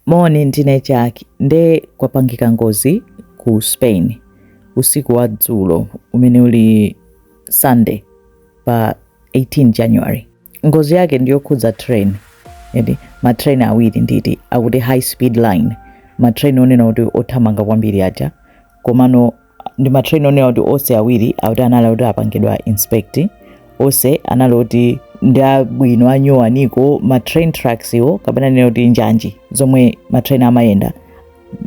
Moni, ndine Jack. Nde kwapangika ngozi ku Spain usiku wa dzulo umene uli Sunday pa 18 January. Ngozi yake ndi yokhudza train eti matrain awiri nditi akuti high speed line matrain onena kuti othamanga kwambiri aja komano ndi matrain onena kuti onse awiri akuti anali kuti apangidwa inspect onse anali kuti ndi abwino anyuwani komanso matrain tracks iwo kapena nena kuti njanji zomwe matrain amayenda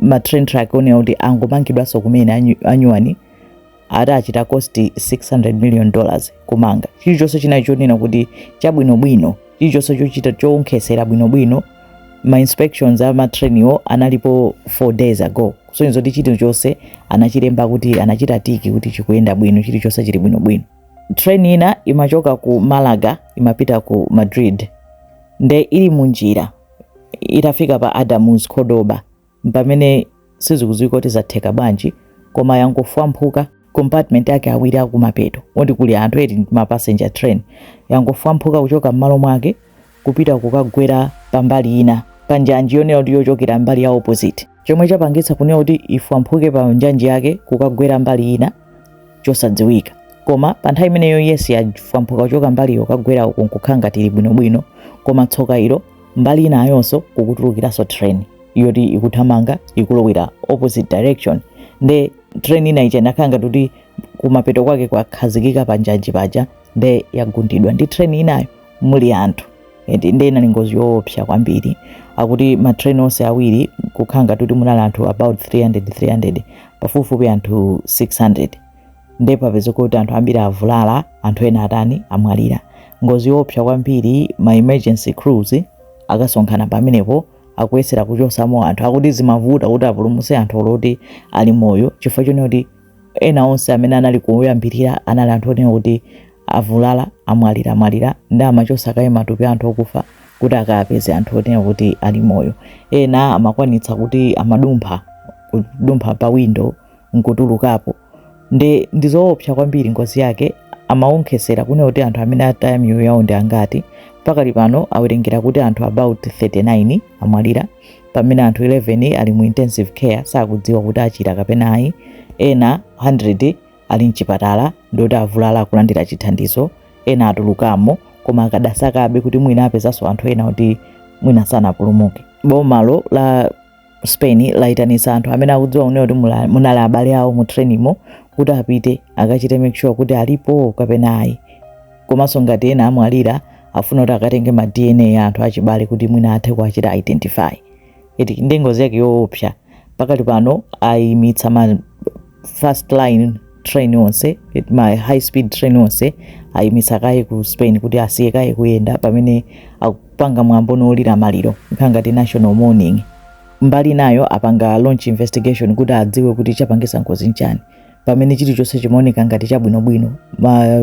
matrain track onena kuti angomangidwanso kumene anyu- anyuwani ati achita cost 600 million dollars kumanga chilichonse chinali chonena kuti chabwinobwino chilichonse chochita choonkhetsera bwinobwino ma inspections a matrain iwo analipo 4 days ago kusonyeza kuti chilichonse anachilemba kuti anachita tiki kuti chikuyenda bwino chilichonse chili bwinobwino train ina imachoka ku malaga imapita ku madrid nde ili munjira itafika pa Adamuz Cordoba mpamene sizikudziwika kuti zatheka bwanji koma yangofwamphuka compartment ake awiri akumapeto oti kuli anthu eti ndi ma passenger train yangofwamphuka kuchoka m'malo mwake kupita kukagwera pambali ina pa njanji yonena kuti yochokera mbali ya opposite chomwe chapangitsa kunena kuti ifwamphuke pa njanji yake kukagwera mbali ina chosadziwika koma pa nthawi imeneyo yes yafwamphuka kuchoka mbaliyo kukagwera uku nkukhala ngati ili bwinobwino koma tsoka ilo mbali inayonso kukutulukiranso train yoti ikuthamanga ikulowera opposite direction nde train ina ija inakhala ngati kuti kumapeto kwake kwakhazikika pa njanji paja nde yagundidwa ndi train inayo muli anthu eti nde inali ngozi yoopsa kwambiri akuti ma train onse awiri kukhala ngati kuti munali anthu about 300 300 pafupifupi anthu 600 nde papezeka kuti anthu ambiri avulala anthu ena atani amwalira ngozi yoopsa kwambiri ma emergency crews akasonkhana pamenepo akuyesera kuchotsamo anthu akuti zimavuta kuti apulumutse anthu oloti ali moyo chifukwa chonena kuti ena onse amene anali kuyambirira anali anthu onena kuti avulala amwalira amwalira nde amachotsa kaye matupi anthu okufa kuti akapeze anthu onena kuti ali moyo ena amakwanitsa kuti amadumphadumpha pa window nkutulukapo nde ndizoopsa kwambiri ngozi yake amawonkhetsera kunena kuti anthu amene ataya miyoyo yawo ndi angati pakali pano awerengera kuti anthu about 39 amwalira pamene anthu 11 ali mu intensive care sakudziwa kuti achira kapena ayi ena 100 ali mchipatala ndoti avulala akulandira chithandizo ena atulukamo koma akadasakabe kuti mwina apezanso anthu ena kuti mwina sanapulumuke boma lo la Spain laitanitsa anthu amene akudziwa kunena kuti munali abale awo mu trainimo kuti apite akachite make sure kuti alipo kapena ayi komanso ngati ena amwalira afuna kuti akatenge ma dna a anthu achibale kuti mwina athe kuwachita identify ndi ngozi yake yoopsa pakali pano ayimitsa ma first line train onse ma high speed train onse ayimitsa kaye ku spain kuti asiye kaye kuyenda pamene akupanga mwambo wolira maliro nkhani ngati national mourning mbali inayo apanga launch investigation kuti adziwe kuti chapangisa ngozi nchani pamene chilichonse chimaoneka ngati chabwinobwino ma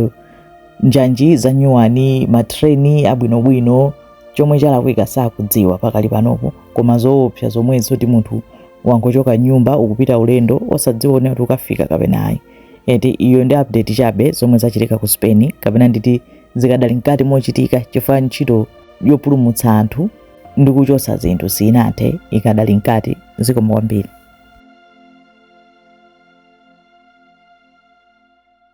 njanji zanyuwani matreni abwinobwino chomwe chalakwika sakudziwa pakali panopo koma zoopsa zomwe zoti munthu wangochoka mnyumba ukupita ulendo osadziwa kuti ukafika kapena ayi eti iyo ndi update chabe zomwe zachitika ku spain kapena nditi zikadali mkati mochitika chifukwa ntchito yopulumutsa anthu ndi kuchotsa zinthu sinathe ikadali mkati zikomo kwambiri